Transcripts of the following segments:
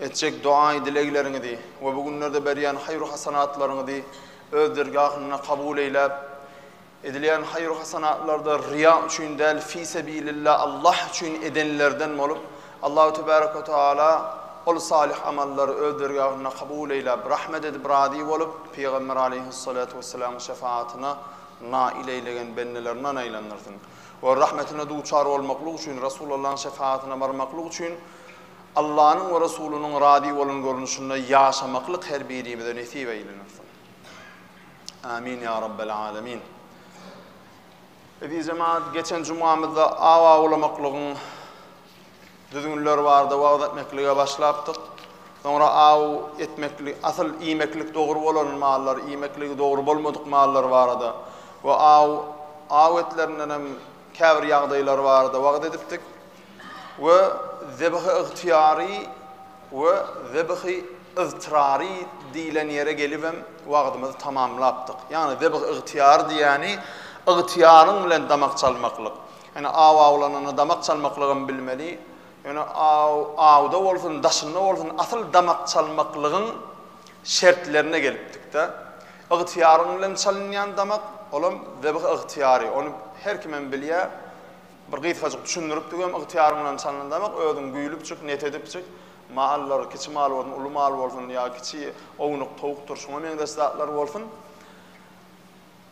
Etjek doga-dilegleriňizi we bu günlerde berýän haýru-hasanatlaryňyzy Öz dergahynda kabul eýläp, edilýän haýru-hasanatlarda ryýa üçin däl, fisebilillah, Allah üçin edenlerden bolup, Allahu tebärek we taala ol salyh amallary Öz dergahynda kabul eýläp, rahmet edip, razy bolup, Pygamber aleýhussalatu wessalamyň şefaatyna nail eýlegen bendelerinden aýlandyrsyn. Ol rahmetine duçar bolmaklyk üçin, Resulallahyň şefaatyna barmaklyk üçin Allanyň we Resulynyň razy bolan görnüşinde ýaşamaklyk her birimize nesip eýlenirsin. Amin ýa Rabbel Alemin. Eziz jemaat, geçen jumamyzda aw awlamaklygyň düzgünleri barada wagyz etmeklige başlapdyk. Soňra aw etmeklik, asyl iýmeklik dogry bolan mallar, iýmekligi dogry bolmadyk mallar barada we aw aw etlerinden hem käbir ýagdaýlar barada wagyz edipdik. we zebihi ygtyýary we zebihi yztyrary diýlen ýere gelibem wagzymyzy tamamlapdyk. Ýagny zebihi ygtyýary diýýäni ygtyýaryň bilen damak çalmaklyk. Ýöne aw awlananda damak çalmaklygam bilmeli. Ýöne aw awda bolsun, daşynda bolsun asyl damak çalmaklygyň şertlerine gelipdik-de. Ygtyýaryň bilen çalynýan damak, olam zebihi ygtyýary, ony her kimem bilýär. Bir gysgajyk düşündiripdigem ygtyýaryň bilen çalyndamak özüň güýlüpjik, net edipjik, mallar, kiçi mal bolsun, uly mal bolsun ýa kiçi ownuk towukdyr şuňa meňzeş zatlar bolsun.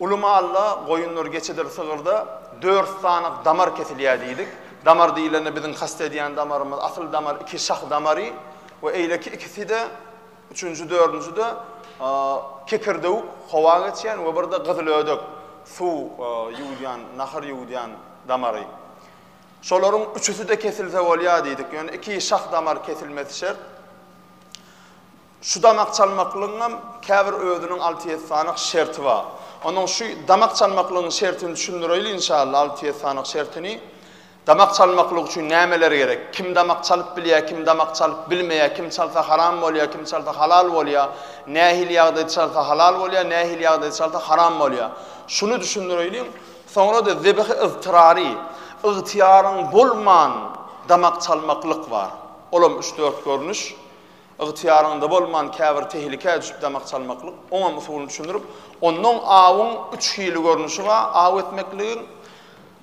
Uly malda, goýundyr, geçidir, sygyrda dört sany damar kesilýär diýdik. Damar diýlende biziň kast edýän damarymyz, asyl damar iki şah damary we eýleki ikisi-de Üçünji, dördünjide kekirdewük, howa geçýän we birde gyzylödek, suw ýuwudýan, nahar ýuwudýan damary. Şolaryň üçüsi-de kesilse bolýar diýdik. Ýöne iki şah damar kesilmesi şert. Şu damak çalmaklygyň hem käbir özüniň alty-ýedi sanyk şerti bar. Onuň şu damak çalmaklygyň şertini düşündireýin inşallah, alty-ýedi sanyk şertini. Damak çalmaklyk üçin nämeler gerek? Kim damak çalyp bilýär, kim damak çalyp bilmeýär, kim çalsa haram bolýar, kim çalsa halal bolýar, nähili ýagdaýda çalsa halal bolýar, nähili ýagdaýda çalsa haram bolýar? Şuny düşündireýliň, soňra-da zebihi yztyrary, ygtyýaryň bolman damak çalmaklyk bar. Olam üç-dört görnüş. Ygtyýaryňda bolman käbir tehlikä düşüp damak çalmaklyk. Oňam usulyny düşündirip, onnoň awyň üç hili görnüşi bar, aw etmekligiň.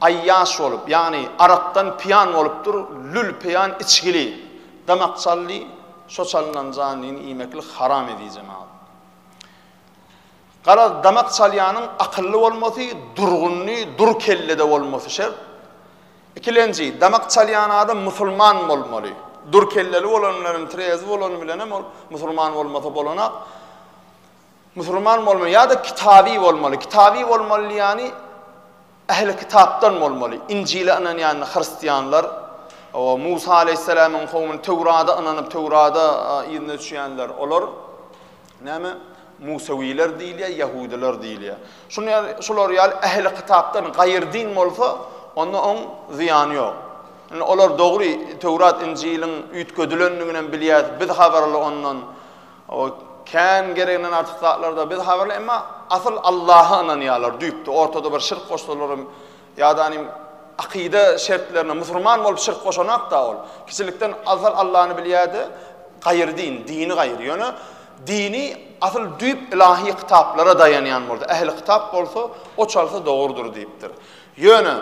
Aýýaş bolup, ýagny arakdan pyýan bolupdyr, lül pyýan içgili, damak çaldy, şo çalynan janlyny iýmeklik haram ediji mal. Garaz, damak çalýanyň akylly bolmasy, durgunly, dur kellede bolmasy şert. Ikilenji, damak çalýan adam musulman bolmaly. Dur kelleli bolan bilenem, trezi bolany bilenem ol musulman bolmasa bolanak. Musulman bolmaly ýa-da kitaby bolmaly. Kitaby bolmaly diýýäni ähli kitapdan bolmaly. Injile ynanýan hristianlar, Musa aleýhissalamyň kowumy, Töwrada ynanyp, Töwrada yzyna düşýänler, olar näme? Musawiler diýilýär, ýahudylar diýilýär. Şular ýaly ähli kitapdan gaýry din bolsa, onda oň zyýany ýok. Indi olar dogry Töwrat, Injiliň üýtgedilendiginem bilýär, biz habarly ondan. O kän gereginden artyk zatlarda biz habarly emma asyl Allaha ynanýarlar düýpde ortada bir şirk goşsalaram ýadany akyda şertlerine musurman bolup şirk goşanakda ol kiçilikden asyl Allahny bilýärdi gaýyr din dini gaýyr ýöne dini asyl düýp ilahi kitaplara daýanýan boldy ähli kitap bolsa o çalsa dogurdyr diýipdir ýöne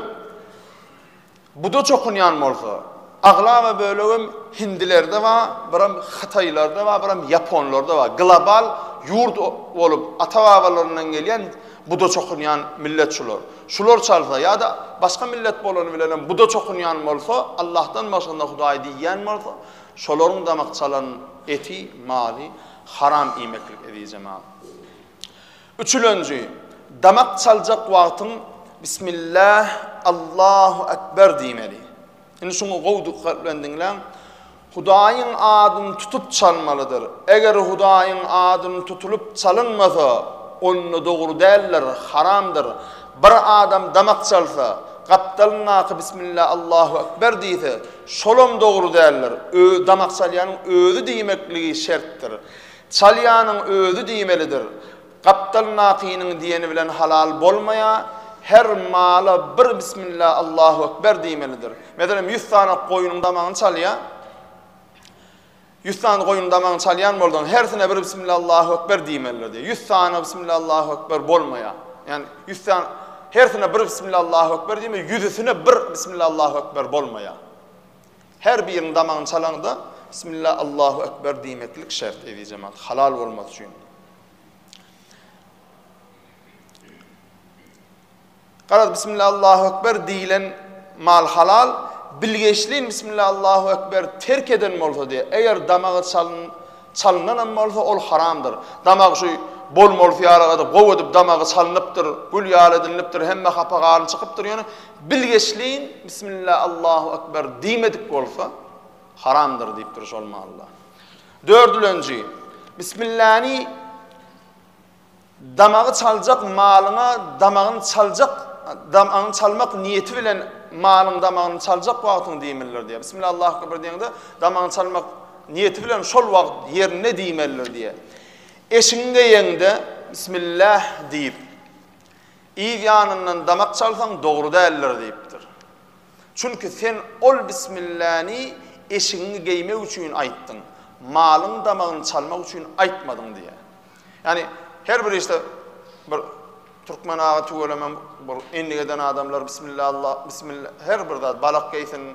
Buda çokunýan bolsa, aglaba bölegem hindilerde bar, biram hytaýlarda bar, biram ýaponlarda bar. Global ýurt bolup ata-babalaryndan gelýän buda çokunýan millet şular. Şular çalsa ýa-da başga millet bolany bilenem buda çokunýan bolsa, Allahdan başgynda hudaý diýýän bolsa, şolaryň damak çalan eti, maly haram iýmeklik eziz jemagat. Üçülenji, Damak çaljak wagtyň Bismillah, Allahu Ekber diýmeli. Indi şuňy gowy dykgat bilen diňläň. Hudaýyň adyny tutup çalmalydyr. Eger Hudaýyň adyny tutulyp çalynmasa, onda dogry däldir, haramdyr. Bir adam damak çalsa, gapdalyndaky Bismillah, Allahu Ekber diýse, şolam dogry däldir. Damak çalýanyň özi diýmekligi şertdir. Çalýanyň özi diýmelidir. Gapdal nakynyň diýeni bilen halal bolmaýa, her mala bir bismillah Allahu ekber diýmelidir. Meselem, ýüz sany goýnuň damagyny çalýa, ýüz sany goýnuň damagyny çalýan bolsaň, hersine bir bismillah Allahu ekber diýmelidir diýýär. Ýüz sany bismillah Allahu ekber bolmaýa. Ýani ýüz sany hersine bir bismillah Allahu ekber diýme, ýüzüsine bir bismillah Allahu ekber bolmaýa. Her biriniň damagyny çalaňda Bismillah Allahu Ekber diýmeklik şert eziz jemaat halal bolmasy üçin. Garaz Bismillah Allahu Ekber diýilen mal halal bilgeşliň Bismillah Allahu Ekber terk eden bolsa diýe eger damagy çalyn çalynan hem bolsa ol haramdyr. Damak şu bol mol fiyaragada gow edip damagy çalnypdyr, gül ýaly edinlipdir, hemme hapa garyn çykypdyr ýöne Bilgeşleýin Bismillah Allahu Ekber diýmedik bolsa, haramdyr diýip duruş bolmalydyr. Dördülenji, Bismillany damagy çaljak malyňa damagyny çaljak damagyny çalmak niýeti bilen malyň damagyny çaljak wagtyň diýmelidir diýýär. Bismillah Allahu Ekber diýende damagyny çalmak niýeti bilen şol wagt ýerinde diýmelidir diýýär. Eşiňi geýeňde Bismillah diýip Yz ýanyndan damak çalsaň dogry däldir diýipdir. Çünki sen ol bismilläni eşigiňi geýmek üçin aýtdyň, malyň damagyny çalmak üçin aýtmadyň diýýär. Ýagny her bir işde bir türkmen aga tüweleme bir endik eden adamlar bismillallah bismillah her bir zat balak geýsin,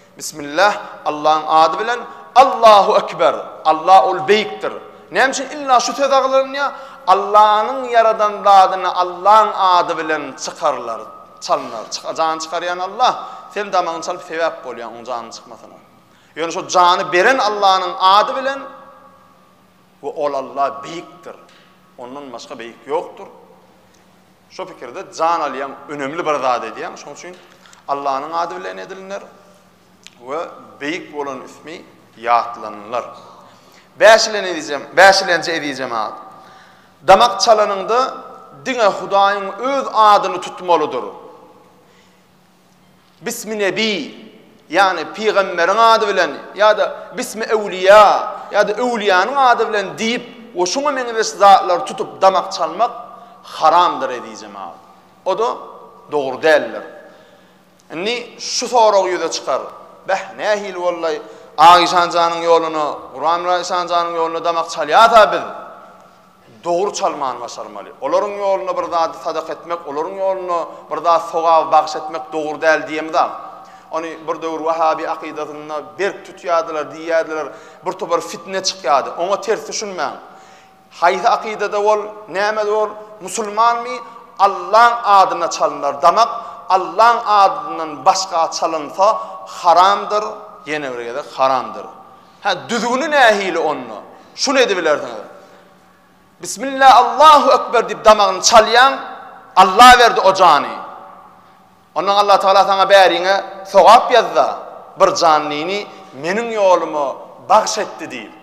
Bismillah, Allahyň ady bilen, Allahu Ekber, Allah ol beýikdir. Näme üçin illa şu söz agzalynýar? Allanyň ýaradan zadyny Allaň ady bilen çykarlar, çalynar. Çyka jany çykarýan Allah, sen damagyny çalyp sebäp bolýaň oň janyny çykmasyna. Ýöne şo jany beren Allanyň ady bilen, We Ol Alla beýikdir. Ondan başga beýik ýokdur. Şo pikirde jan alýaň, önemli bir zat edýäň. Şonuň üçin Allanyň ady bilen edilner we beýik bolan ismi ýatlanylar. Bäşilenji eziz jemagat. Damak çalanyňda diňe Hudaýyň öz adyny tutmalydyr. Bismi Nebi, ýagny pygamberiň ady bilen ýa-da Bismi Öwliýa, ýa-da öwliýanyň ady bilen diýip we şuňa meňzeş zatlary tutup damak çalmak haramdyr eziz jemagat. O-da dogry däldir. Indi şu sorag ýüze çykar, Bäh, nähili bollaý, Agyşan janyň ýoluna, Guramyrat Işan janyň ýoluna damak çalýas-a biz? Dogry çalmany başarmaly. Olaryň ýoluna bir zady sadaka etmek, olaryň ýoluna bir zat sogaby bagyş etmek dogry däl diýemizam. Ony bir döwür wahabi akydasynda berk tutýardylar, diýýärdiler, bir topar fitne çykýardy. Oňa ters düşünmäň. Haýsy akydada bol, nämede bol, musulmanmy, Allaň adyna çalynar damak, Allaň adyndan başga çalynsa haramdyr, ýene bir gezek haramdyr. Hä, düzgüni nähili onda? Şuny edibilersiňiz. Bismillah, Allahu ekber diýip damagyny çalýaň, Alla berdi o jany. Ondan Alla Tagala saňa bäriňe sogap ýazza, bir janlyny meniň ýoluma bagş etdi diýip.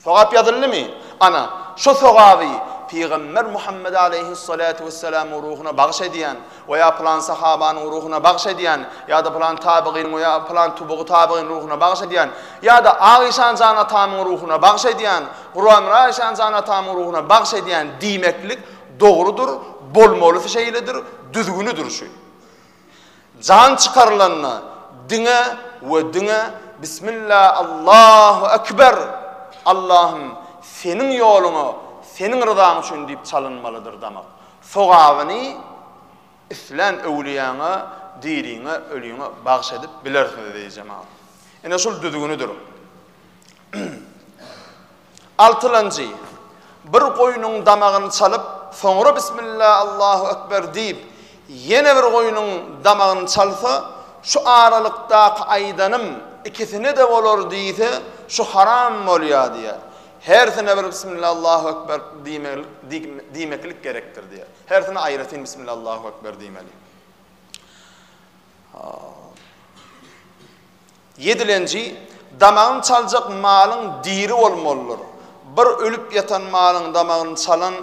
Sogap ýazyldymy? Ana, şo sogaby Pygamber Muhammet aleýhyssalatu wessalamyň ruhuna bagyş edýän we ýa pylan sahabanyň ruhuna bagyş edýän ýa-da pylan tabygynyň we ýa pylan tubugy tabygynyň ruhuna bagyş edýän ýa-da Ak işan jan atamyň ruhuna bagyş edýän, Guramyra işan jan atamyň ruhuna bagyş edýän diýmeklik dogrudyr, bolmalysy şeýledir, düzgünidir şu. Jan çykarylanda diňe we diňe Bismilla Allahu Ekber, Allahym Seniň ýoluňa Seniň ryzaň üçin diýip çalynmalydyr damak. Sogabyny islän öwlüýäňe, diriňe, ölüňe bagyş edip bilersiňiz eziz jemagat. Ine şul düzgünidir. Altylanjy, Bir goýnuň damagyny çalyp, soňra Bismillah, Allahu ekber diýip, ýene bir goýnuň damagyny çalsa, şu aralykdaky aýdanym ikisine-de bolar diýse, şu haram bolýar diýýär. Hersine bir Bismillah, Allahu ekber diýmeklik gerekdir diýýär. Hersine aýratyn Bismillah, Allahu ekber diýmeli. Ýedilenji, Damagyny çaljak malyň diri bolmalydyr. Bir ölüp ýatan malyň damagyny çalan,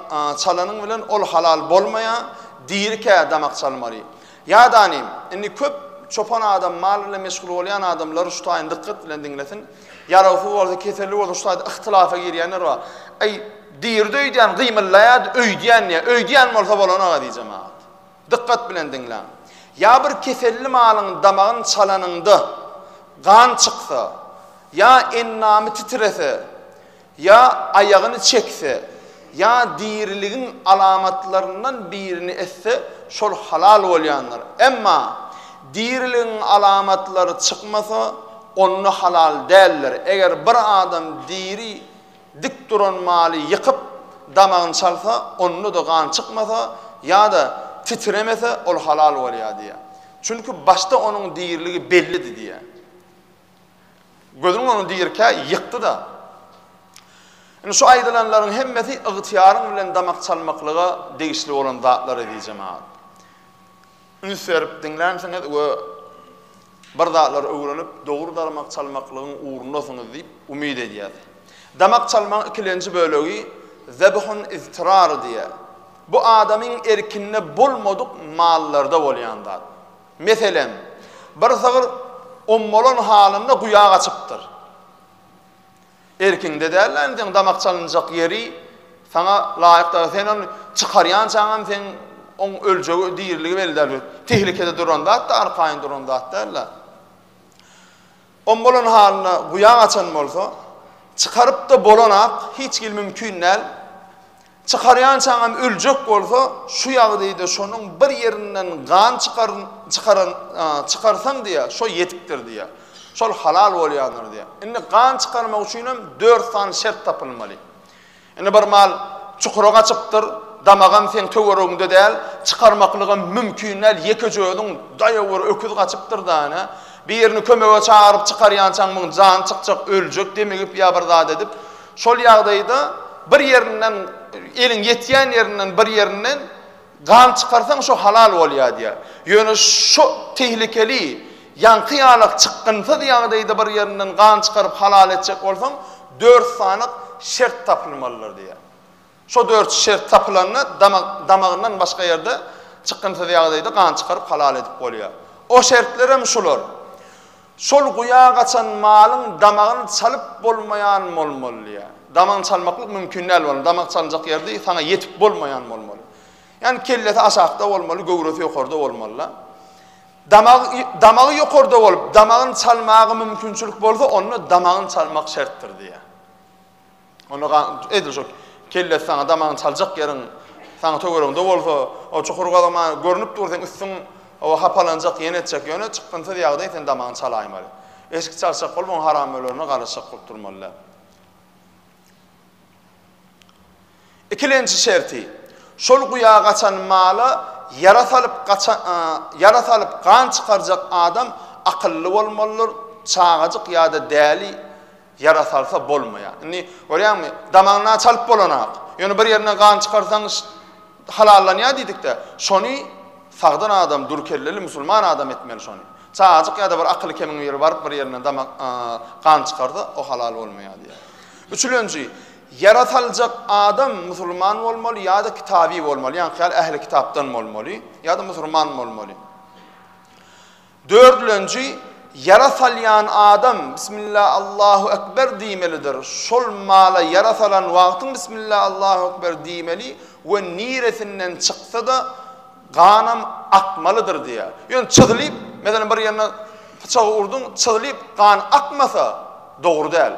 çalanyň bilen ol halal bolmaýar, dirikä damak çalmaly. Ýadanyň, indi köp çopan adam, mal bilen meşgul bolýan adamlar şu taýyny dykgat bilen diňlesin. Ýarawsyz bolsa, keselli bolsa şu taýda yhtylafa girýänler bar. Äý, diridi öýdýän gymyllaýardy, öýdýän diýýär. Öýdýän bolsa bolany aga diýjemagat. Dykgat bilen diňläň. Ýa bir keselli malyň damagyny çalanyňda gan çyksa, ýa endamy titrese, ýa aýagyny çekse, ýa diriligiň alamatlaryndan birini etse, şol halal bolýandyr. Emma diriligiň alamatlary çykmasa, onda halal däldir. Eger bir adam diri Dik duran maly ýykyp, damagyny çalsa, onda-da gan çykmasa ýa-da titremese, ol halal bolýar diýýär. Çünki başda onuň diriligi bellidi diýýär. Gözüňiz ony dirikä ýykdy-da. Indi şu aýdylanlaryň hemmesi ygtyýaryň bilen damak çalmaklyga degişli bolan zatlar eziz jemagat. üns berip diňlänsiňiz we bir zatlary öwrenip, dogry damak çalmaklygyň ugrundasyňyz diýip umyt edýäs. Damak çalmagyň ikilenji bölegi Zebhun iztirar diýýär. Bu adamyň erkinde bolmadyk mallarda bolýan zat. Meselem, bir sygyr ommalan halynda guýa gaçypdyr. Erkiňde däl-le endiň damak çalynjak ýeri saňa laýyk däl. Sen ony çykarýançaňam seň oň öljegi, diriligi belli däl. Tehlikede duran zat-da, arkaýyn duran zat däl-le. Om bolan halynda guýa gaçan bolsa, çykaryp-da bolanak hiç hili mümkin däl. Çykarýan çagam öljek bolsa, şu ýagdaýda şonuň bir ýerinden gan çykaryn, çykaran, çykarsaň diýýär, şo ýetikdir diýýär. Şol halal bolýandyr diýýär. Indi gan çykarmak üçin hem dört sany şert tapylmaly. Indi bir mal çukura gaçypdyr, damagam seň töweregiňde däl, çykarmaklygam mümkin däl, ýekeje özüň, daýaw bir öküz gaçypdyr-da ine, birini kömege çagyryp çykarýançaň muň jany çykjak, öljek, demigip ýa bir zat edip, Şol ýagdaýda bir ýerinden, eliň ýetýän ýerinden bir ýerinden gan çykarsaň şo halal bolýar diýýär. Ýöne şo tehlikeli, ýaňky ýalak çykgynsyz ýagdaýda bir ýerinden gan çykaryp halal etjek bolsaň, dört sanyk şert tapylmalydyr diýýär. Şo dört şert tapylanda damagyndan başga ýerde çykgynsyz ýagdaýda gan çykaryp halal edip bolýar. O şertler hem şular, şol guýa gaçan malyň damagyny çalyp bolmaýan bolmaly, ýa damagyny çalmaklyk mümkin däl bolmaly, damak çalynjak ýerde saňa ýetip bolmaýan bolmaly. Ýagny kellesi aşakda bolmaly, göwresi ýokarda bolmaly-da. Damagy damagy ýokarda bolup, damagyny çalmaga mümkinçilik bolsa, onda damagyny çalmak şertdir diýýär. Onda ga, edil şo kellesi saňa damagyny çaljak ýeriň saňa töweregiňde bolsa, o çukur gazama görnüp dur seň üstüň o hapalanjak ýene etjek ýöne çykgynsyz ýagdaý sen damagyny çalaýmaly. Eşik çalşak bolup oň haram ölerine garaşjak bolup durmaly däl. Ikilenji şerti, şol guýa gaçan mala ýara salyp gaça, a, ýara salyp gan çykarjak adam akylly bolmalydyr, çagajyk ýa-da däli Ýara salsa bolmaýar. Indi, görýäňmi, damagyna çalyp bolanak. Ýöne bir ýerine gan çykarsaň halallanýar diýdik-dä. Şony sagdyn adam, dür kelleli musulman adam etmeli şony. Çagajyk ýa-da bir akyly kemiň biri baryp bir ýerine damak, gan çykarsa, o halal bolmaýar diýýär. Üçülenji, ýara saljak adam musulman bolmaly ýa-da kitaby bolmaly, ýaňky ýaly ähli kitapdan bolmaly ýa-da musulman bolmaly. Dördülenji, Ýara salýan adam Bismillah Allahu ekber diýmelidir. Şol mala ýara salan wagtyň Bismillah Allahu ekber diýmeli we niresinden çyksa-da ganam akmalydyr diýýär. Ýöne çyzlyp, meselem bir ýerine pyçagy urduň, çyzlyp gan akmasa dogry däl.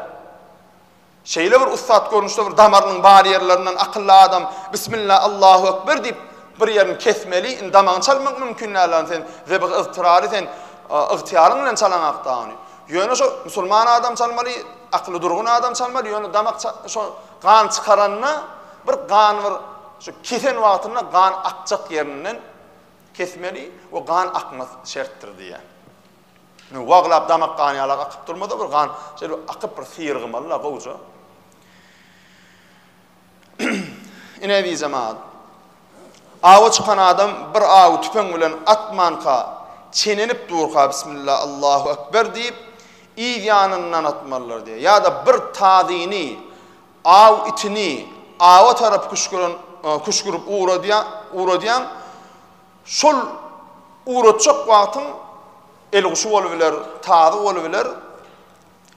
Şeýle bir ussat görnüşde bir damarynyň bar ýerlerinden akylly adam Bismillah Allahu Ekber diýip bir ýerini kesmeli indi damagyny çalmak mümkin däl ony sen zebygy yztyrary sen ygtyýaryň bilen çalaň hakda ony ýöne şo musulman adam çalmaly akyly durgun adam çalmaly ýöne damak şo gan çykaranda bir gan bir şu kesen wagtynda gan akjak ýerinden kesmeli we gan akmaz şertdir diýýär. Indi waglap damak gan ýalak akyp durmaz-a bir gan, şeýle bir akyp bir syrygmaly-la gowja. Ine eziz jemaat. Awa çykan adam bir awy tüpeň bilen atmanka, çenenip durka bismillah Allahu ekber diýip, yz ýanyndan atmalydyr diýýär. Ýa-da bir tazyny, aw itini awa tarap küşgüren, küşgürip ugradýan, ugradýan Şol ugratjak wagtyň elguşy bolubiler, tazy bolubiler,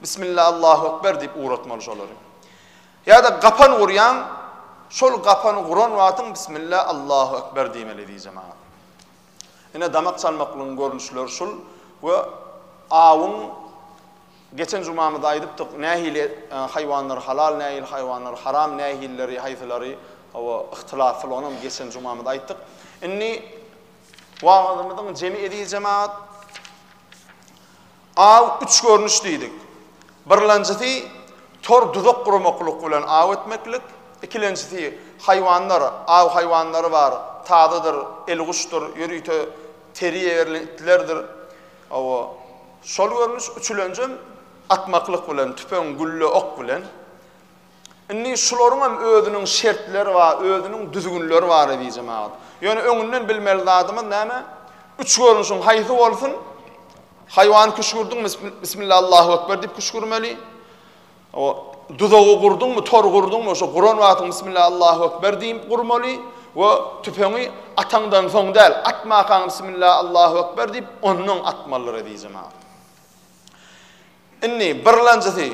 Bismilla Allahu Ekber diýip ugratmaly şolary. Ýa-da gapan gurýaň, şol gapany guran wagtyň Bismilla Allahu Ekber diýmeli diýjek maňa. Ine damak çalmaklygyň görnüşleri şul we awyň Geçen jumamyzda aýdypdyk, nähili haýwanlar halal, nähili haýwanlar haram, nähilileri, haýsylary, hawa, yhtylatly, onam geçen jumamyzda aýtdyk. Indi wagyzymyzyň jemi eziz jemagat, aw üç görnüş diýdik. Birlenjisi, tor duzak guramaklyk bilen aw etmeklik, ikilenjisi, haýwanlar, aw haýwanlary bar, tazydyr, elguşdyr, ýörite teriýerli itlerdir, Hawa, şol görnüş üçülenjem atmaklyk bilen, tüpeň, gülle, ok bilen. Indi şularyňam özüniň şertleri bar, özüniň düzgünleri bar eziz jemagat. Ýöne öňünden bilmeli zadymyz näme? Üç görnüşiň haýsy bolsun, haýwan küşgürdiň, bismillah, Allahu ekber diýip küşgürmeli. O duzagy gurduňmy, tor gurduňmy, şo guran wagtyň Bismillah Allahu ekber diýip gurmaly we tüpeňi ataňdan soň däl, atmakaň Bismillah Allahu ekber diýip, onnoň atmalydyr eziz jemagat. Indi birlenjisi,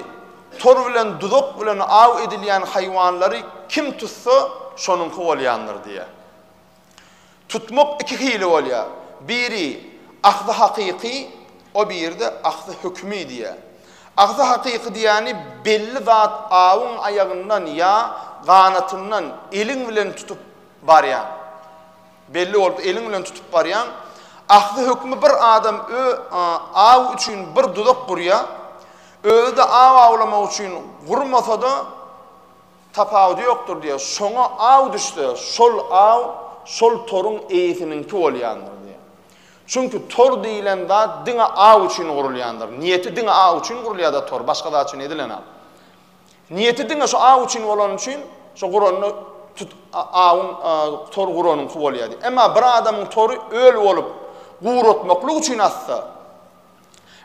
tor bilen duzak bilen aw edilýän haýwanlary kim tutsa, şonuňky bolýandyr diýýär. Tutmak iki hili bolýar. Biri, ahzy hakyky, o biri-de ahzy hökümi diýýär. Ahzy hakyky diýýäni belli zat awyň aýagyndan ýa ganatyndan eliň bilen tutup barýaň. Belli bolup eliň bilen tutup barýaň. Ahzy hökümi bir adam ö, a, aw üçin bir duzak gurýar. Özi-de aw awlamak üçin gurmasa-da, Tapawudy ýokdur diýýär. Şoňa aw düşse, şol aw şol toruň eýesiniňki bolýandyr diýýär. Çünki tor diýlen zat diňe aw üçin gurulýandyr. Niýeti diňe aw üçin gurulýar-da tor, başga zat üçin edilenok. Niýeti diňe şu aw üçin bolany üçin, şo guranda tut awyň tor guranyňky bolýar diýýär. Emma bir adamyň tory öl bolup, guratmaklyk üçin atsa,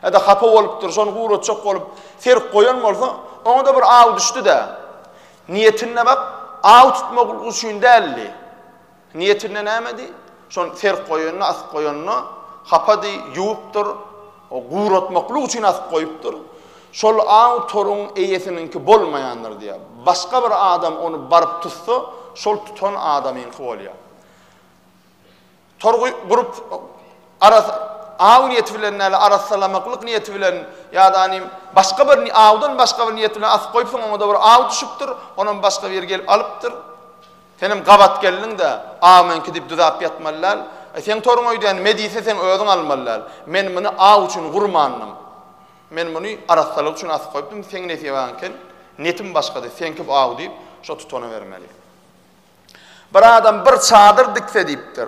Ýa-da hapa bolupdyr, şony guratjak bolup serk goýan bolsa, oňa-da bir aw düşdi-dä. Niýetinde bak, aw tutmak üçin däldi. Niýetinde nämedi? Şony serk goýanyna, asyp goýanyna hapady, ýuwupdyr, guratmaklyk üçin asyp goýupdyr. Şol aw toruň eýesiniňki bolmaýandyr diýýär. Başga bir adam ony baryp tutsa, şol tutan adamyňky bolýar. Torgy gurup aras aw niýeti bilen näle arassalamaklyk niýeti bilen ýa-da ni başga bir ni awdan başga bir niýet bilen asyp goýupsyň oňa-da bir aw düşüpdir onam başga biri gelip alypdyr. Senem gabat geldiň-de aw meňki diýip düzäp ýatmaly däl. E seň toruň öýdýän me diýse seň özüň almaly däl. Men muny aw üçin gurmandym. Men muny arassalyk üçin asyp goýupdym seň nesibäň eken netim başgady seňki bu aw diýip şo tutana bermeli. Bir adam bir çadyr dikse diýipdir.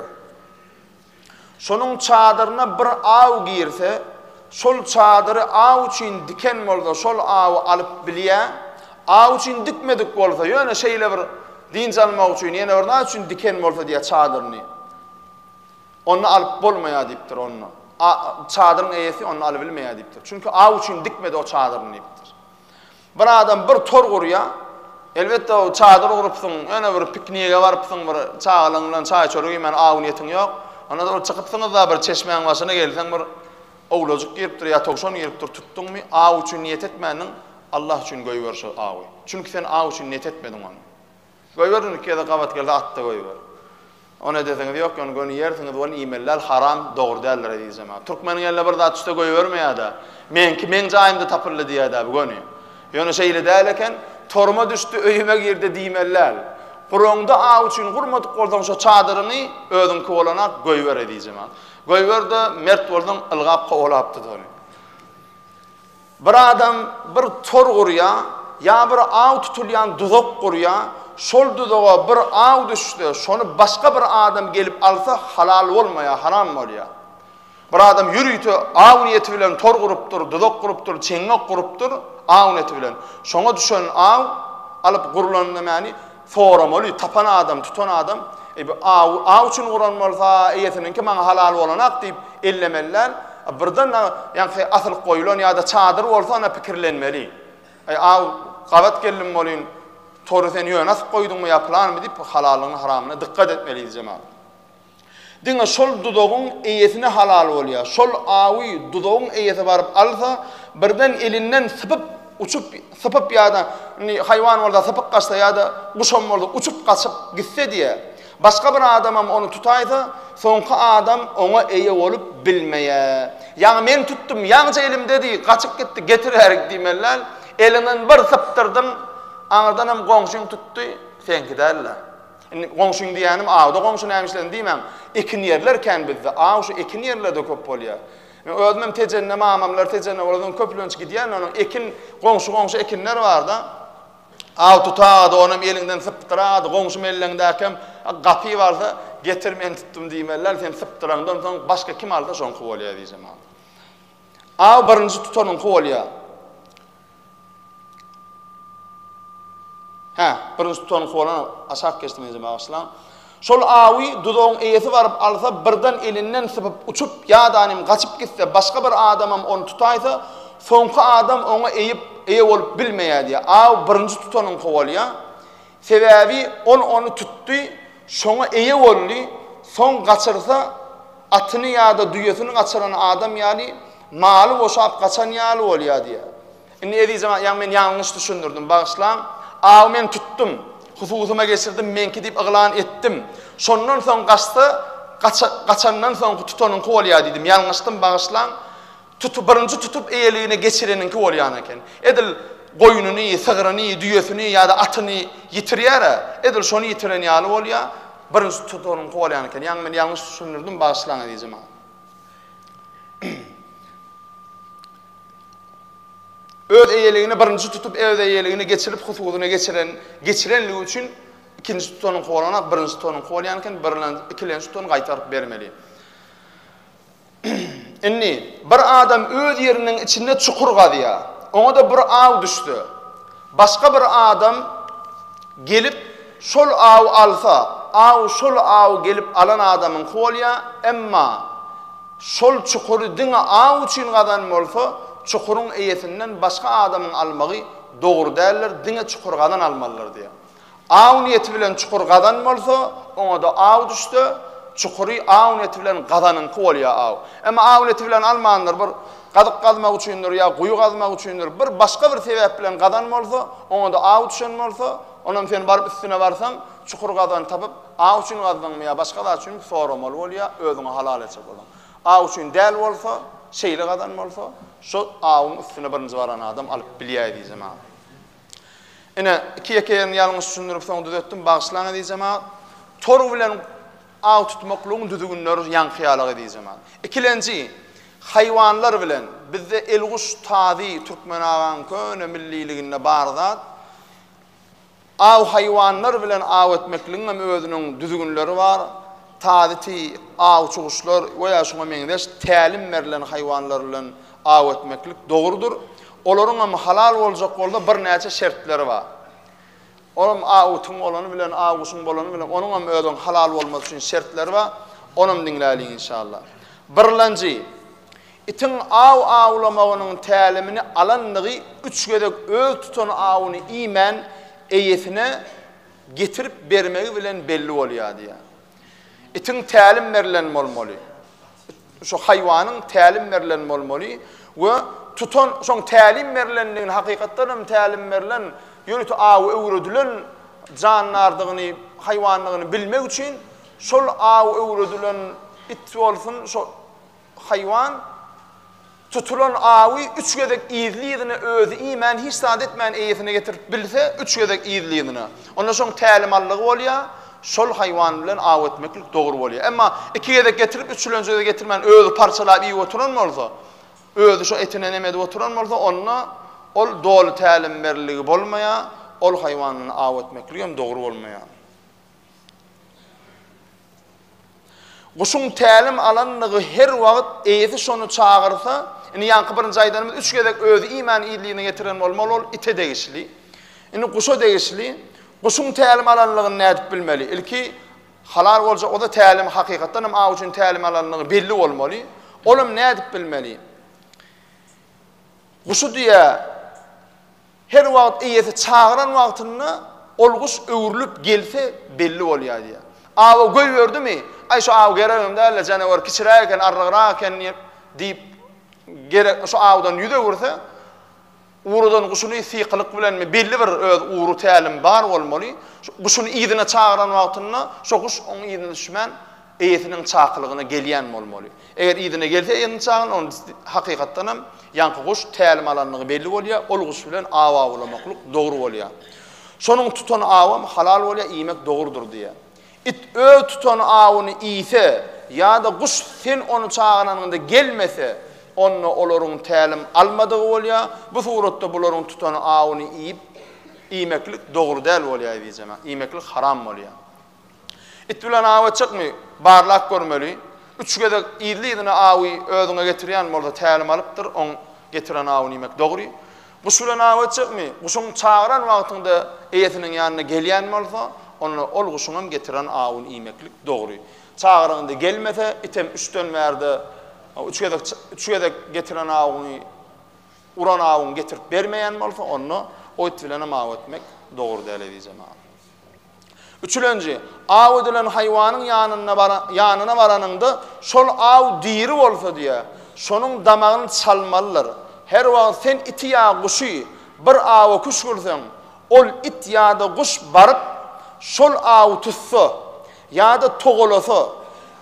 Şonuň çadyryna bir aw girse, şol çadyry aw üçin diken bolsa şol awy alyp bilýä, aw üçin dikmedik bolsa ýöne şeýle bir dynç almak üçin ýene bir zat üçin diken bolsa diýýä çadyryny. Ony alyp bolmaýar diýipdir onda. Çadyryň eýesi ony alybilmeýär diýipdir. Çünki aw üçin dikmedi o çadyryny diýipdir. Bir adam bir tor gurýar. Elbetde, çadyr gurupsyň, ýöne bir piknige barypsyň, bir çagalaň bilen çaý-çörek iýmäne aw-niýetiň ýok. Ondan soň bir çykypsyňyz-da, bir çeşmäň başyna gelseň, bir owlajyk giripdir ýa towşan giripdir, tutduňmy, aw üçin niýet etmändiň, Allah üçin goýber şo awy. Çünki sen aw üçin niýet etmediň ony. Goýber ony ikide gabat gelse atda goýber. Ony edeseňiz ýok ýony göni ýersiňiz ony iýmelial haram dogry däldir eziz jemaat. Türkmeniň eline bir zat düşse goýbermeýärda. Meňki meň jaýymda tapyldy diýädäbi göni. Ýöne şeýle däl eken toruma düşdi öýüme girdi diýmelial. Guraňda aw üçin gurmadyk bolsaň şo çadyryňy özüňki bolanak goýber eziz jemaat. Goýberde mert bolsaň ylgap kowalapdyda ony. Bir adam bir tor gurýa, ýa bir aw tutulýan duzak gurýa, şol duzaga bir aw düşse, şony başga bir adam gelip alsa, halal bolmaýa, haram bolýa. Bir adam ýörite aw niýeti bilen tor gurupdyr, duzak gurupdyr, çeňňek gurupdyr, aw niýeti bilen. Şoňa düşen aw alyp gurlan nämäni? Soramaly, tapan adam, tutan adam, Eý, bu awy aw üçin guran bolsa, eýesiniňki maňa halal bolanak diýip, ellemeli däl. Birden a, ýaňky asylyp goýlan ýa-da çadyr bolsa, onda pikirlenmeli. Eý, aw, gabat geldim welin, tory sen ýöne asyp goýduňmy ýa pylanymy diýip, bu halalygyna-haramyna dykgat etmeli, jemagat. Diňe şol duzagyň eýesine halal bolýar. Şol awy duzagyň eýesi baryp alsa, birden elinden sypyp, uçup, sypyp ýa-da, indi haýwan bolsa sypyp gaçsa ýa-da guşam bolsa uçup gaçyp gitse diýýä. Başga bir adamam ony tutaýsa, soňky adam oňa eýe bolup bilmeýär. Ýaňy men tutdum, ýaňyja elimdedi, gaçyp gitdi, getiräýik diýmeli däl. Eliňden bir sypdyrdyň, aňyrdanam goňşyň tutdy, seňki däl-le. Indi goňşyň diýýänim awda goňşy näme işlesin diýmäň. Ekin ýerler kän bizde. Aw şu ekin ýerlerde köp bolýar. Men özümem Tejende mamamlar Tejende bolany köplenç gidýän onuň ekin goňşy goňşy ekinler barda. Aw tutady onam eliňden sypdyrady goňşy melleňdäkem gapy barsa getir men tutdum diýmeli däl sen sypdyraňdan soň başga kim alsa şoňky bolýar diýjemok. Aw birinji tutanyňky bolýar. Hä, birinji tutanyňky bolan aşak geçdi meňzeýär bagyşlaň. Şol awy duzagyň eýesi baryp alsa, birden elinden sypyp uçup ýa-da nem gaçyp gitse, başga bir adamam ony tutaýsa, soňky adam oňa eýip, eýe bolup bilmeýär diýýär. Aw birinji tutanyňky bolýar. Sebäbi ol ony tutdy, şoňa eýe boldy, soň gaçyrsa, atyny ýa-da düýesini gaçyran adam ýaly, maly boşap gaçan ýaly bolýar diýýär. Indi ezizem, ýa men ýalňyş düşündirdim, bagyşlaň. Awy men tutdum, hususyma geçirdim, meňki diýip yglan etdim. Şondan soň gaçsa, gaçandan soňky tutanyňky bolýar diýdim. Ýalňyşdym, bagyşlaň. Tuty birinji tutup eýeligine geçireniňki bolýan eken. Edil goýnuny, sygryny, düýesini ýa-da atyny ýitirýär-ä, edil şony ýitiren ýaly bolýar, birinji tutanyňky bolýan eken. Ýaňy men ýalňyş düşündirdim, bagyşlaň eziz jemagat. Öz eýeligine birinji tutup öz eýeligine geçirip hususyna geçiren, geçirenligi üçin ikinji tutanyňky bolanok, birinji tutanyňky bolýan eken, birlen, ikilenji tutany gaýtaryp bermeli. Indi, bir adam öz ýeriniň içinde çukur gazýar. Oňa-da bir aw düşse, başga bir adam gelip, şol awy alsa, aw şol awy gelip alan adamyňky bolýar, emma şol çukury diňe aw üçin gazan bolsa, çukuryň eýesinden başga adamyň almagy dogry däldir, diňe çukur gazan almalydyr diýýär. Aw niýeti bilen çukur gazan bolsa, oňa-da aw düşse, çukury aw niýeti bilen gazanyňky bolýar aw. Emma aw niýeti bilen almandyr, bir gazyk gazmak üçindir ýa guýy gazmak üçindir, bir başga bir sebäp bilen gazan bolsa, oňa-da aw düşen bolsa, onam sen baryp üstüne barsaň, çukur gazan tapyp, aw üçin gazdyňmy ýa başga zat üçinmi soramaly bolýar, özüňe halal etjek bolaň. Aw üçin däl bolsa, şeýle gazan bolsa, şo awuň üstüne birinji baran adam alyp bilýär diýjemagam. Ine, iki ýeke ýerini ýalňyş düşündirip, soň düzetdim, bagyşlaň eziz jemagat. Tor bilen aw tutmaklygyň düzgünleri ýaňky ýaly eziz jemagat. Ikilenji, haýwanlar bilen, bizde elguş, tazy, türkmen agaň köne milliliginde bar zat. Aw haýwanlar bilen aw etmekligiň hem özüniň düzgünleri bar. Tazy, tiý, awçy guşlar we ýa şuňa meňzeş tälim berlen haýwanlar bilen Aw etmeklik dogrudyr. Olaryňam halal boljak bolsa birnäçe şertleri bar. Olam aw utyň bolany bilen, aw guşuň bolany bilen, onuňam özüň halal bolmasy üçin şertleri bar. Onam diňläliň inşallah. Birlenji, itiň aw awlamagynyň tälimini alandygy üç gezek öz tutan awuny iýmän eýesine getirip bermegi bilen belli bolýar diýýär. Itiň tälim berlen bolmaly. Şu haýwanyň tälim berlen bolmaly we tutan şoň tälim berlendigini, hakykatdan hem tälim berlen, ýörite awy öwredilen jandardygyny, haýwandygyny bilmek üçin şol awy öwredilen it bolsun, şo haýwan, Tutulan awy üç gezek yzly-yzyna özi iýmän, hiç zat etmän eýesine getirip bilse, üç gezek yzly-yzyna, onda şoň tälimallygy bolýar, şol haýwan bilen aw etmeklik dogry bolýar. Emma iki gezek getirip, üçülenjide getirmän, özi parçalap iýip oturan bolsa, özi şo etine neme edip oturan bolsa, onda ol doly tälimberliligi bolmaýar, ol haýwan bilen aw etmekligem dogry bolmaýar. Guşuň tälim alandygy her wagt eýesi şony çagyrsa, indi ýaňky birinji aýdanymyz üç gezek özi iýmän ýerine ýetiren bolmaly ol ite degişli. Indi guşa degişli. Guşuň tälim alandygyny nädip bilmeli? Ilki halal boljak bolsa tälim hakykatdan hem aw üçin tälim alandygy belli bolmaly. Ol hem nädip bilmeli? Guşy diýä Her wagt eýesi çagyran wagtynda ol guş öwrülip gelse belli bolýar diýýär. Awy goýberdimi, Aý şu aw geregem däl-le, janawar kiçiräk eken, arrygrak eken diýip, gerek şu awdan ýüz öwürse, uradan guşuny sykylyk bilenmi, belli bir öz ury, tälim bar bolmaly, şu guşuny yzyna çagyran wagtynda şo guş onuň yzyna düşmän, Eýesiniň çakylygyna gelýän bolmaly. Eger yzyna gelse eýesiniň çakylygyna, onda hakykatdan hem ýaňky guş tälim alandygy belli bolýar, ol guş bilen aw awlamaklyk dogry bolýar. Şonuň tutan awam halal bolýar, iýmek dogrudyr diýýär. It öz tutan awyny iýse ýa-da guş sen ony çagyranyňda gelmese, onda olaryň tälim almadygy bolýar. Bu suratda bularyň tutan awyny iýip, iýmeklik dogry däl bolýar, eziz jemagat. Iýmeklik haram bolýar. It bilen awa çykmy? Barlap görmeli. Üç gezek yzly-yzyna awy özüňe getirýän bolsa tälim alypdyr, oň getiren awy diýmek dogry. Guş bilen awa çykmy? Guşuň çagyran wagtynda eýesiniň ýanyna gelýän bolsa, onda ol guşuňam getiren awyny iýmeklik dogry. Çagyranda gelmese, item üçden bärde üç gezek üç gezek getiren awyňy uran awyňy getirip bermeýän bolsa, onda o it bilenem awa etmek dogry däl, eziz jemagat. Üçülenji, aw edilen haýwanyň ýanyna baranyňda şol aw diri bolsa diýe, şonuň damagyny çalmalydyr. Her wagt sen iti ýa guşy bir awa küşgürseň, ol it ýa-da guş baryp, şol awy tutsa ýa-da togalasa,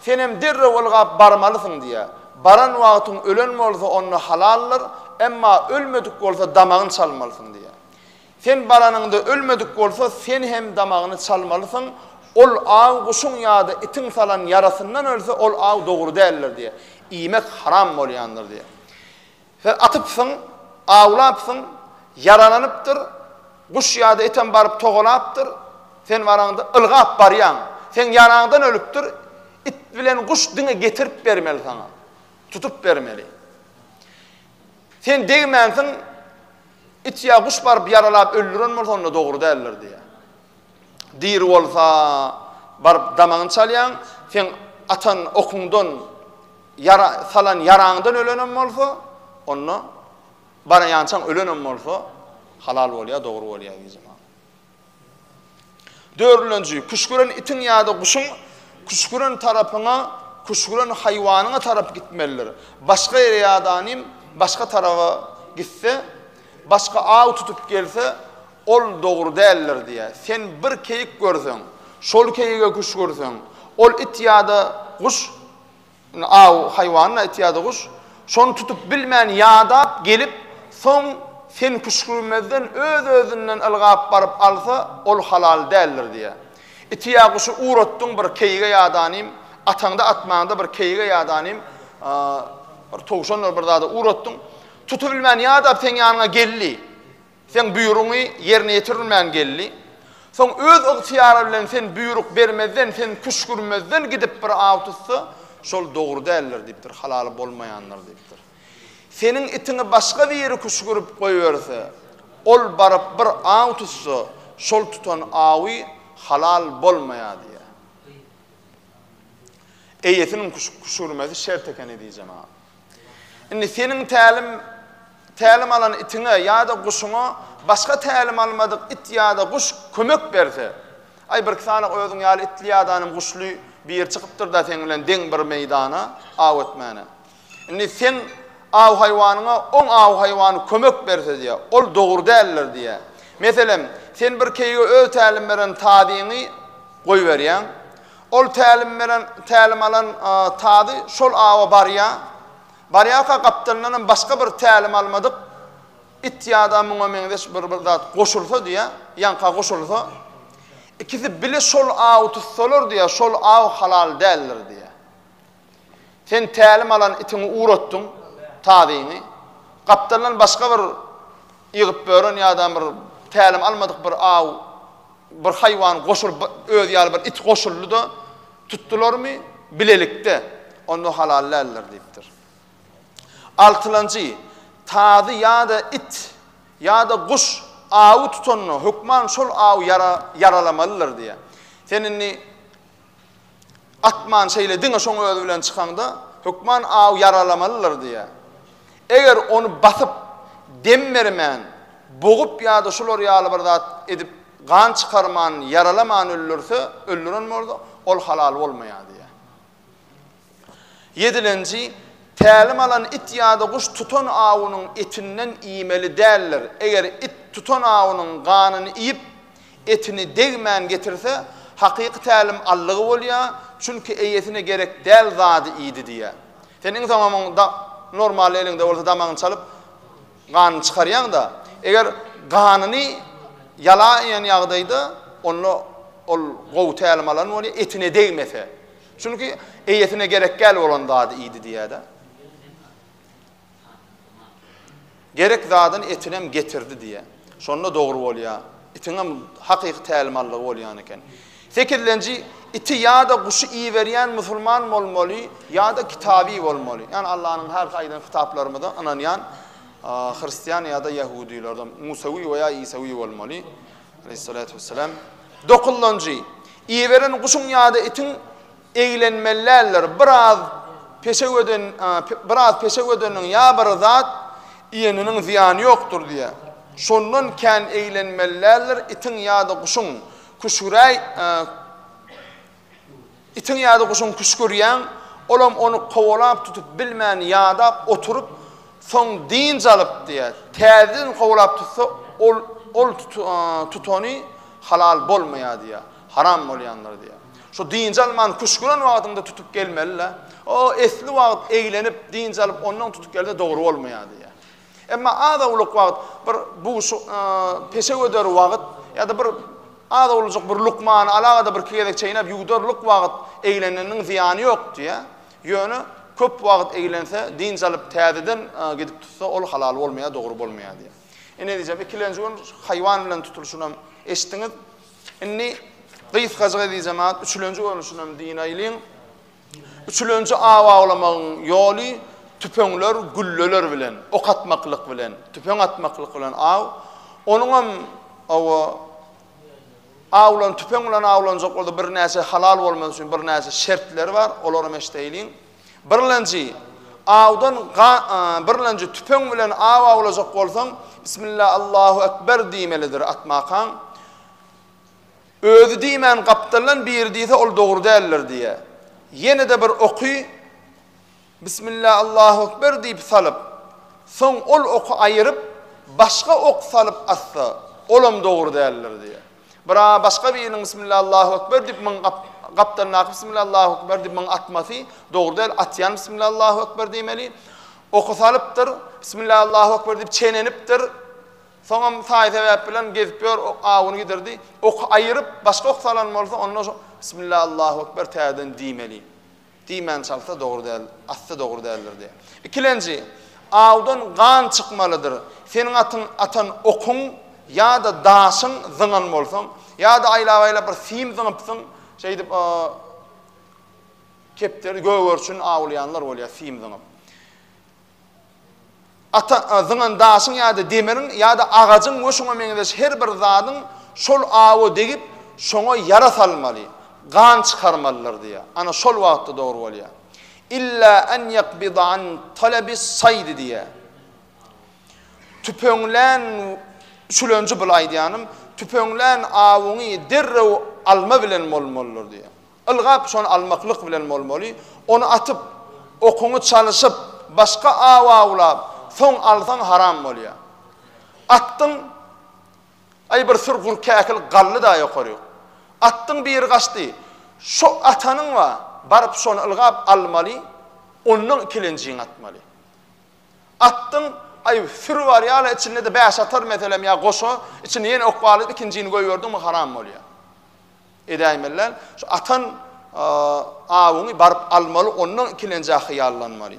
senem derrew ylgap barmalysyň diýe. Baran wagtyň ölen bolsa onda halaldyr, emma ölmedik bolsa damagyny çalmalysyň diýe. Sen baranyňda ölmedik bolsa, sen hem damagyny çalmalysyň, ol aw guşuň ýa-da itiň salan ýarasyndan ölse, ol aw dogry däldir diýýär. Iýmek haram bolýandyr diýýär. Sen atypsyň, awlapsyň, ýaralanypdyr, guş ýa-da item baryp togalapdyr, sen baraňda ylgap barýaň, seň ýaraňdan ölüpdir, it bilen guş diňe getirip bermeli saňa, tutup bermeli. Sen degmänsiň, it ýa guş baryp ýaralap öldüren bolsa onda dogry däldir diýýär. Diri bolsa baryp damagyny çalýaň, seň atan okuňdan ýara salan ýaraňdan ölenem bolsa onda baraýançaň ölenem bolsa halal bolýar, dogry bolýar gijemagam. Dördünji, küşgüren itiň ýa-da guşuň küşgüren tarapyňa, küşgüren haýwanyňa tarap gitmelidir. Başga ýere ýa-da nim başga taraba gitse, başga aw tutup gelse, ol dogry däldir diýýär. Sen bir keýik görseň, şol keýige küşgürseň, ol it ýa-da guş Indi aw haýwanyny aýtýardy guş. Şony tutup bilmän ýadap gelip, soň sen küşgürmezden öz-özünden ylgap baryp alsa, ol halal däldir diýýär. Iti ýa guşy ugratdyň bir keýige ýadanym, ataňda atmaňda bir keýige ýadanym, bir towşandyr bir zada ugratdyň. Tutubilmän ýadap seň ýanyňa geldi. Seň buýrugyňy ýerine ýetirilmän geldi. Soň öz ygtyýary bilen sen buýruk bermezden, sen küşgürmezden gidip bir aw tutsa, şol dogry däldir diýipdir, halaly bolmaýandyr diýipdir. Seniň itiňi başga biri küşgürip goýberse, ol baryp bir aw tutsa, şol tutan awy halal bolmaýar diýýär. Eýesiniň küşgürmesi şert ekeni diýjemä. Indi seniň tälim tälim alan itiňe ýa-da guşuňa başga tälim almadyk it ýa-da guş kömek berse, Aý, birki sany özüň ýaly itli ýadanym guşly biri çykypdyr-da seň bilen deň bir meýdana aw etmäne. Indi seň aw haýwanyňa oň aw haýwany kömek berse diýýär. Ol dogry däldir diýýär. Meselem, sen birkeýige öz tälim beren tazyňy goýberýäň. Ol tälim beren, tälim alan tazy şol awa barýar. Barýarka gapdalyndanam başga bir tälim almadyk it ýa-da muňa meňzeş bir bir zat goşulsa diýýär, ýaňka goşulsa, ikisi bile şol awy tutsalar diýýär, şol aw halal däldir diýýär. Sen tälim alan itiňi ugratdyň, tazyňy. Gapdaldan başga bir ýygyp bören ýa-da bir tälim almadyk bir aw, bir haýwan goşulyp, özi ýaly bir it goşuldy-da, tutdularmy, bilelikde, onda halal däldir diýipdir. Altylanjy, Tazy ýa-da it ýa-da guş awy tutanda, hökman şol aw ýaralamalydyr diýýär. Sen indi. Atman şeýle diňe şoň özi bilen çykaňda, hökman aw ýaralamalydyr diýýär. Eger ony basyp, dem bermän, bogup ýa-da şular ýaly bir zat edip, gan çykarman, ýaralaman öldürse, öldüren bolsa, ol halal bolmaýar diýýär. Ýedilenji, Tälim alan it ýa-da guş tutan awunyň etinden iýmeli däldir. Eger it tutan awunyň ganyny iýip, etini degmän getirse, hakyky tälim allygy bolýar, çünki eýesine gerek däl zady iýdi diýýär. Sen iň soňam oň da normal eliňde bolsa damagyny çalyp, ganyny çykarýaň-da. Eger ganyny ýala iýen ýagdaýda, onda ol gowy tälim alan bolýar, etine degmese. Çünki eýesine gerekgäl bolan zady iýdi diýýär-de. Gerek zadyny etinem getirdi diýýär. Şonda dogry bolýar. Itiňem hakyky tälimanlygy bolýan eken. Sekizlenji, iti ýa-da guşy iberýän musulman bolmaly ýa-da kitabyý bolmaly. Ýagny Allanyň her aýdan kitaplarymyza ynanýan hristian ýa-da ýahudylardan, musawyý we ýa isawyý bolmaly. Aleyhissalatu vesselam, Dokunlanjy, iýiberen guşuň ýa-da itiň eglenmeli däldir, biraz peşew eden, biraz peşew edeniniň ýa bir zat iýeniniň zyýany ýokdur diýýär. Şondan kän eglenmeli däldir itiň ýa-da guşuň, küşgüräý, Itiň ýa-da guşuň küşgürýän, olam ony kowalap tutup bilmän ýadap oturyp, soň dynç alyp diýýär. Täzeden kowalap tutsa, ol ol tutany halal bolmaýar diýýär, haram bolýandyr diýýär. Şu dynç alman küşgüren wagtyňda tutup gelmeli-le. O esli wagt eglenip, dynç alyp, ondan tutup gelse dogry bolmaýar diýýär. Emma az awluk wagt, bir bugşy peşe göder wagt ýa-da bir az awlujyk bir lukmany alagada bir iki gezek çeýnäp ýuwdarlyk wagt egleneniň zyýany ýok diýýär. Ýöne köp wagt eglense, dynç alyp täzeden gidip tutsa, ol halal bolmaýar, dogry bolmaýar diýýär. Ine diýjem, ikilenji gün haýwan bilen tutulşyny hem eşitdiňiz. Indi gysgajyk edijemän üçlenji görnüşini hem diýinäýliň. Üçülenji aw awlamagyň ýoly tüpeňler, gülleler bilen, ok atmaklyk bilen, tüpeň atmaklyk bilen aw. Onuňam owo awlan tüpeň bilen awlanjak bolsa birnäçe halal bolmagy üçin birnäçe şertleri bar. Olaram eşdeýliň. Birlenji awdan birlenji tüpeň bilen aw awlajak bolsaň, Bismillah Allahu Ekber diýmelidir atmakaň. Özi diýmän gapdaldan biri diýse ol dogry däldir diýýä. Ýene-de bir oky Bismillah Allahu Ekber diýip salyp, soň ol oky aýyryp, başga ok salyp atsa, olam dogry däldir diýýä. Bira başga biriniň Bismillah Allahu Ekber diýip muň gapdalyndaky Bismillah Allahu Ekber diýip muň atmasy dogry däl, atýan Bismillah Allahu Ekber diýmeli. Oky salypdyr, Bismillah Allahu Ekber diýip çenenipdir. Soňam saý-sebäp bilen gezip ýör, ok awuny gidirdi. Oky aýyryp, başga ok salan bolsa, onda şo Bismillah, Allahu ekber täzeden diýmeli. Diýmän çalsa dogry däl, asty dogry däldir diýýär. Ikilenji, Awdan gan çykmalydyr. Seniň atyň atan okuň ýa-da daşyň zyňan bolsaň, ýa-da aýlap-aýlap bir sim zyňypsyň, şeýdip o kepderi, gögerçini awlaýanlar bolýar sim zyňyp. Ata, zyňan daşyň ýa-da demiriň ýa-da agajyň we şoňa meňzeş her bir zadyň şol awa degip, şoňa ýara salmaly, gan çykarmalydyr diýýär. Ana, şol wagtda dogry bolýar. Illa an ýakbida an talabis-saýdi diýýär. Tüpeňlän, üçülenji bul aýdýanym, tüpeňlän awyňy derrew alma bilen bolmalydyr diýýär. Ylgap şony almaklyk bilen bolmaly, ony atyp, okuňy çalyşyp, başga aw awlap, soň alsaň haram bolýar. Atdyň, aý bir syr gury käkil galdy-da ýokary. Atdyň biri gaçdy. Şo atanyň wa, baryp şony ylgap almaly, ondan ikilenjiňi atmaly. Atdyň, aý, süri barýar-a içinde-de bäş atar meselem ýa goşa, içine ýene ok balyp ikinjini goýberdiňmi haram bolýar. Edäýmeli däl. Şu atan awyňy baryp almaly, ondan ikilenjä hyýallanmaly.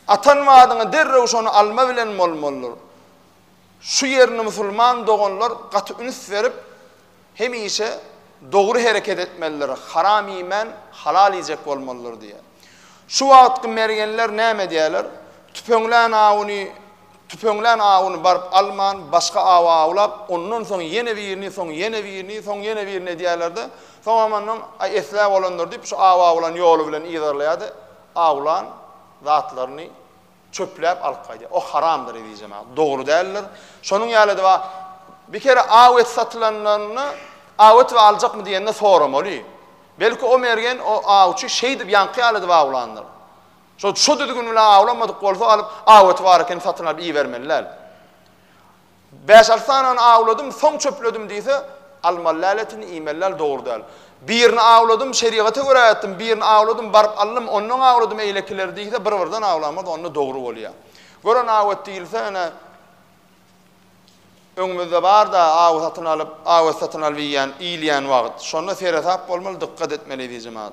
Atan madyňy derrew şony alma bilen bolmalydyr. Şu ýerini musulman doganlar gaty üns berip, hemişe dogry hereket etmelidir, haram iýmän, halal iýjek bolmalydyr diýýär. Şu wagtky mergenler näme edýärler? Tüpeňlän awyny Tüpeňlän awuny baryp alman, başga awy awlap, ondan soň ýene birini, soň ýene birini, soň ýene birini edýärler-de, soňam ondan, Aý, esläp olandyr diýip, şu awy awlan ýoly bilen yzarlaýar-da, awlan zatlaryny çöpläp alyp gaýdýar. O haramdyr, ezizem, a, dogry däldir. Şonuň ýaly-da bar. Bir kere aw et satylanlarynda, Aw et we aljakmy diýende soramaly. Belki, o mergen, o awçy şeýdip, ýaňky ýaly edip awlandyr. Şol şu düzgün bilen awlamadyk bolsa alyp aweti bar eken satyn alyp iýibermeliläl. Bäş alty sanany awladym soň çöpledim diýse almalyläl etini iýmeliläl dogry däl. Birini awladym şerigata görä etdim birini awladym baryp aldym ondan awladym eýlekileri diýse bir birden awlamaz onda dogry bolýa. Gören awet diýilse ene öňümizde barda awy satyn alyp awet satyn alyp iýýän iýilýän wagyt şonda seresap bolmaly dykgat etmeli diýjemagat.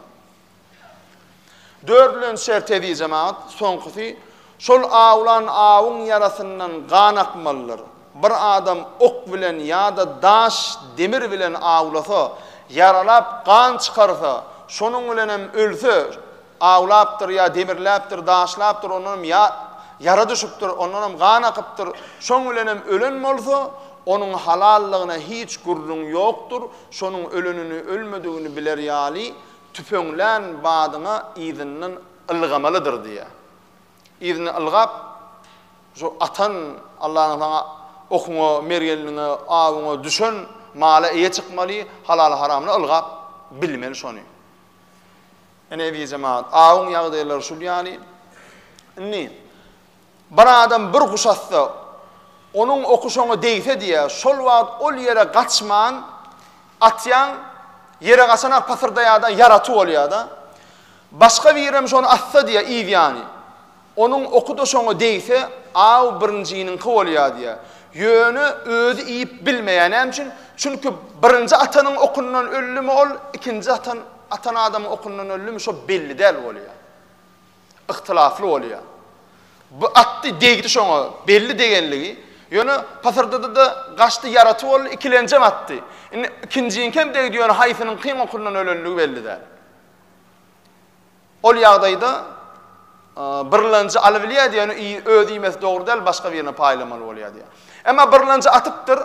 Döredilen şert hezi jemagat, soňkusy, şol awlan awuň ýarasyndan gan akmalydyr. Bir adam ok bilen ýa-da daş, demir bilen awlasa, ýaralap, gan çykarsa, şonuň bilenem ölse, awlapdyr ýa demirläpdir, daşlapdyr, ondanam ýa ýara düşüpdir, ondanam gan akypdyr, şoň bilenem ölen bolsa, onuň halallygyna hiç gürrüň ýokdur, şonuň ölenini, ölmedigini biler ýaly, Tüpeňlän badyna yzyndan ylgamalydyr diýýär. Yzyndan ylgap, şu atan, Allanyň saňa okuňa, mergenligiňe, awuňa düşen mala eýe çykmaly, halaly-haramly ylgap bilmeli şony. Ine, eziz jemagat, awuň ýagdaýlary şul ýaly. Indi Bir adam bir guş atsa, onuň oky şoňa degse diýýär, şol wagt ol ýere gaçman atýaň, ýere gaçan-a pasyrdaýar-da, ýaraty bolýar-da. Başga birem şony atsa diýýär, yz ýany. Onuň oky-da şoňa degse, aw birinjiniňki bolýar diýýär. Ýöne özi iýip bilmeýär. Näme üçin? Çünki birinji atanyň okundan öldümi ol, ikinji atan atan adamyň okundan öldümi, şo belli däl bolýar. Yhtylafly bolýar. Bu atdy degdi şoňa belli degenligi. Ýöne pasyrdadada gaçdy ýaraty boldy ikilenjem atdy. Indi ikinjiňkem degdi ýöne haýsynyň kyn okyndan ölenligi belli däl. Ol ýagdaýda birlenji alybilýär diýýär ýöne iý öz iýmesi dogry däl başga birine paýlamaly bolýar diýýär. Emma birlenji atypdyr.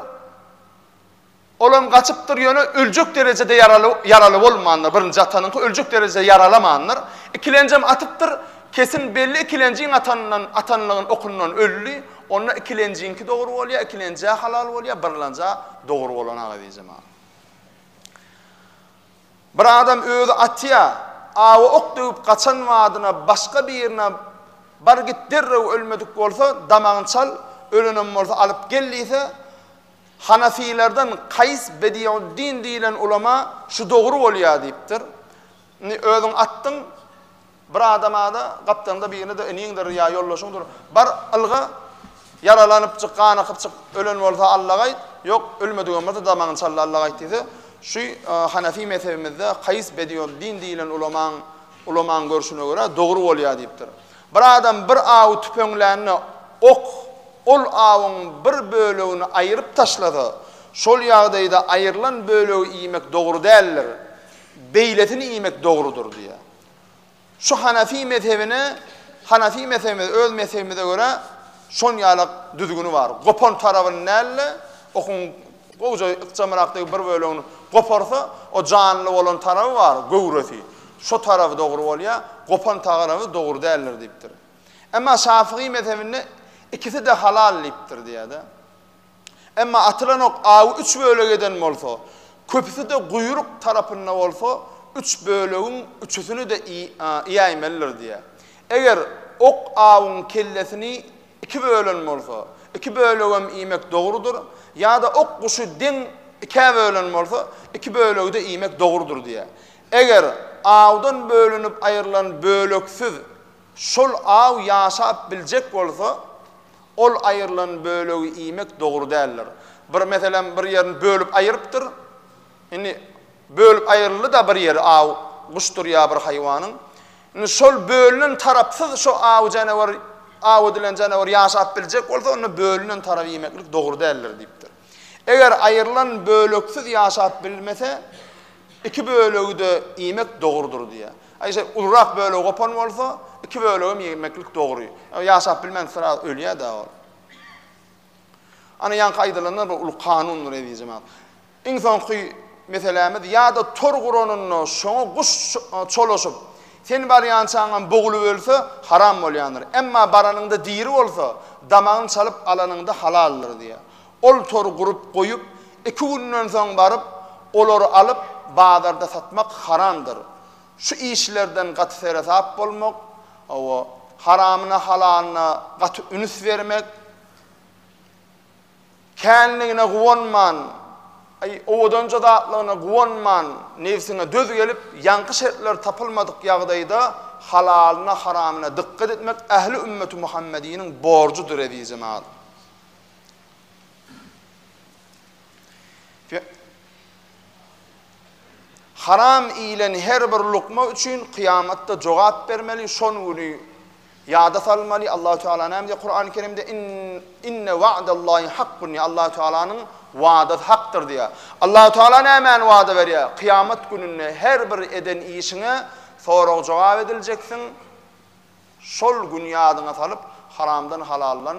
Olam gaçypdyr, ýöne öljek derejede ýaraly ýaraly bolmandyr, birinji atanyňky öljek derejede ýaralamandyr. Ikilenjem atypdyr, kesin belli ikilenjiň atanyndan atanlygyny okundan öldi, onda ikilenjiňki dogry bolýa, ikilenjä halal bolýa, birlanja dogry bolan aga diýjem a. Bir adam özi atýa, awa ok döwüp gaçan wadyna başga birine bar git derrew ölmedik bolsa damagyny çal, ölenem bolsa alyp gel diýse, Hanafylardan Kaýs Bediuddin diýlen ulama şu dogry bolýar diýipdir. Indi özüň atdyň bir adama-da, gapdalyňda birine-de iniňdir ýa ýoldaşyňdyr, Bar, ylga, ýaralanyp çyk, gan akyp çyk, ölen bolsa Allaga aýt, ýok, ölmedigem bolsa damagyny çalla Allaga aýt diýse, şu Hanafi mezhebimizde Kaýs Bediuddin diýlen ulamaň ulamaň görşüne görä dogry bolýar diýipdir. Bir adam bir awy tüpeňlände, ok ol awyň bir bölegini aýyryp taşlasa, şol ýagdaýda aýrylan bölegi iýmek dogry däldir, beýlesini iýmek dogrudyr diýýär. Şu Hanefi mezhebine, Hanefi mezhebimiz, öz mezhebimize görä, şon ýaly düzgüni bar. Gopan tarabyny dälde, okuň gowja ykjamyrakdaky bir bölegini goparsa, o janly bolan taraby bar, göwresi. Şu tarapy dogry bolýar, gopan tagaraby dogry däldir diýipdir. Emma Şafygy mezhebinde ikisi-de halal diýipdir diýýär-de. Emma atylan ok awy üç bölege eden bolsa, köpüsi-de guýruk tarapynda bolsa, üç bölegiň üçüsini-de iýäýmelidir diýýär. Eger ok awyň kellesini iki bölen bolsa, iki bölegem iýmek dogrudyr, ýa-da ok guşy deň ikä bölen bolsa, iki bölegi-de iýmek dogrudyr diýýär. Eger awdan bölünip aýrylan böleksiz şol aw ýaşap biljek bolsa, ol aýrylan bölegi iýmek dogry däldir. Bir meselem bir ýerini bölüp aýrypdyr. Indi bölüp aýryldy-da bir ýeri aw guşdur ýa bir haýwanyň. Indi şol bölünen tarapsyz şo aw janawar aw edilen janawar ýaşap biljek bolsa, onda bölünen taraby iýmeklik dogry däldir diýipdir. Eger aýrylan böleksiz ýaşap bilmese, iki bölegi-de iýmek dogrudyr diýýär. Aý şeý, ulurak bölegi gopan bolsa, iki bölegem iýmeklik dogry. Ýaşap bilmän sraz ölýär-dä ol. Ana ýaňky aýdylanlar bir uly kanundyr eziz jemagat. Iň soňky meselämiz ýa-da tor guranynda şoňa guş çolaşyp, Sen barýançaňam bogulyp ölse, haram bolýandyr. Emma baranyňda diri bolsa, damagyny çalyp alanyňda halaldyr diýýär. Ol tor gurup goýup, iki günden soň baryp, olary alyp, bazarda satmak haramdyr. Şu işlerden gaty seresap bolmak, hawa, haramyna-halalyna gaty üns bermek, Känligine guwanman, aý, owadanja zatlygyna guwanman, nebsiňe döz gelip, ýaňky şertler tapylmadyk ýagdaýda halalyna, haramyna dykgat etmek ähli ümmeti Muhammediniň borjudyr, ezizim al. Haram iýlen her bir lukma üçin kyýamatda jogap bermeli, şon güni Ýada salmaly, Allahu Teala näme diýýär Kurany Kerimde, In, inne wa'dallahi hakkun diýýär, Allahu Tealanyň wadasy hakdyr diýýär. Allahu Teala nämäni wada berýär? Kyýamat gününde her bir eden işiňe sorag-jogap ediljeksin, şol güni ýadyňa salyp, haramdan-halaldan